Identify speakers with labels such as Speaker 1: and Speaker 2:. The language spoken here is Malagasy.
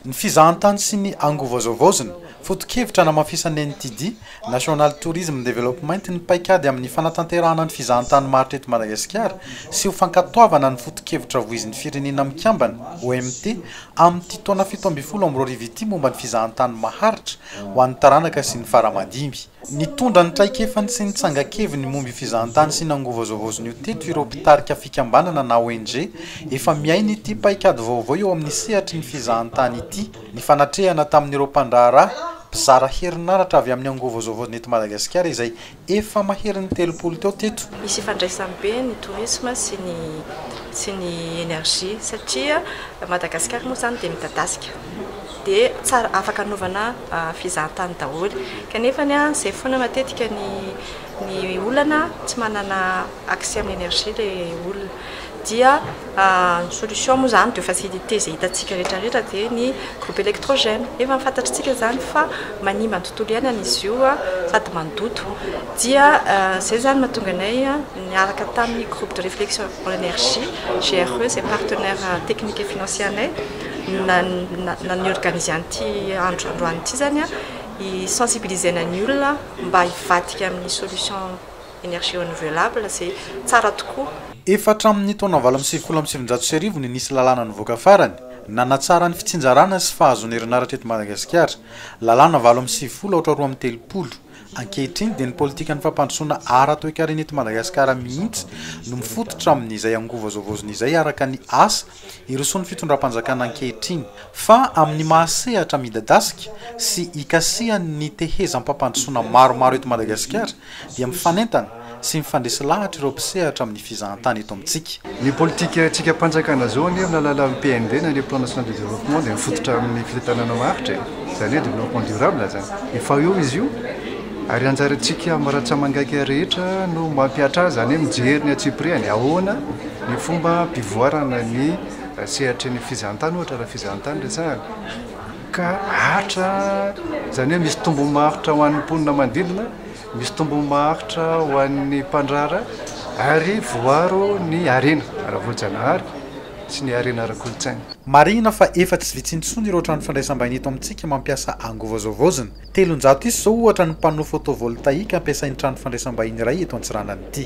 Speaker 1: Ny fizahantany sy ny angovazovaozina, foto-kevitra anamafisan'ny NTD, National Tourism Development, ny paikady amin'ny fanatanterahana ny fizahantany maharitra eto Madagasikara sy ho fankatoavana ny foto-kevitra voizin'ny Firenena Mikambana, OMT, amin'ity taona fito ambin'ny folo amby roa arivo ity momba ny fizahantany maharitra ho an'ny taranaka sy ny fara-madimy. Nitondra ny traikefany sy ny tsangan-keviny momby fizahantany sy nangovazovaozon'io teto ireo mpitarika fikambanana na ONG efa miaina ity paikady vaovao eo amin'ny sehatry ny fizahantany ity, nifanatrehana tamin'ireo mpandraharaha mpizara herinaratra avy amin'ny angovazovaozina eto Madagasikara izay efa maherin'ny telopolo teo teto. Misy ifandraisany be
Speaker 2: ny tourisme sy ny sy ny energie satria Madagasikara moa izany dia midadasika. dia tsara afaka anaovana fizahantany daholo kanefa ny an zay foana matetika ny ny olana tsy manana accès amin'ny énergie ilay olona dia ny solution moa izany de facilité izay hitantsika rehetra rehetra dia ny groupe électrogène efa fantatritsika izany fa manimba ny tontolo iainana izy io an sady mandoto dia izay izany mahatonga anay an niaraka tamin'ny groupe de réflexion en énergie GRE izay partenaire technique et financier anay na ny organise an'ity andro androany ity zany a hisensibiliser-na ny olona mba hivadika amin'ny solution énergie renouvelable izay tsara tokoa. Efa hatramin'ny
Speaker 1: taona valo amby sivifolo amby sivinjato sy arivo no nisy lalàna nivoaka farany nanatsara ny fitsinjarana sy fahazoana herinaratra eto Madagasikara, lalàna valo amby sivifolo aotra roa amby telopolo. Ankehitriny dia ny politikan'ny fampandrosoana ara-toekarena eto Madagasikara mihitsy no mifototra amin'izay angovo zao vaozina izay araka ny asa Hirosoa ny fitondram-panjakana ankehitriny, fa amin'ny maha sehatra midadasika sy hikasihan' ny tehezam-pampandrosoana maromaro eto Madagasikara dia mifanentana sy mifandresy lahatra ireo mpisehatra amin'ny fizahantany eto amintsika. Ny politika
Speaker 3: tsikam-panjakana izao anie amin'ny alalan'ny PND na ilay Plan National de Développement dia mifototra amin'ny fitantanana maharitra e! Izany hoe Développement Durable izany. Efa eo izy io. Ary anjarantsika amin'ny rantsamangaika rehetra no mampihatra azy, izany hoe mijery ny antsipirihany, ahoana ny fomba hampivoarana ny sehatry ny fizahantany ohatra raha fizahantany resahana, ka hatra, izany hoe misy tombony maharitra ho an'ny mponina manodidina, misy tombony maharitra ho an'ny mpandrahara ary voaro ny harena ara-boajanahary sy ny harena ara-kolontsaina. Marihina fa
Speaker 1: efa tsy vitsy intsony ireo trano fandraisam-bahiny eto amintsika mampiasa angovo zao vaozina, Telonjato isa izao ohatra ny panneau photovoltaïque ampiasain'ny trano fandraisam-bahiny iray eto Antsiranana ity.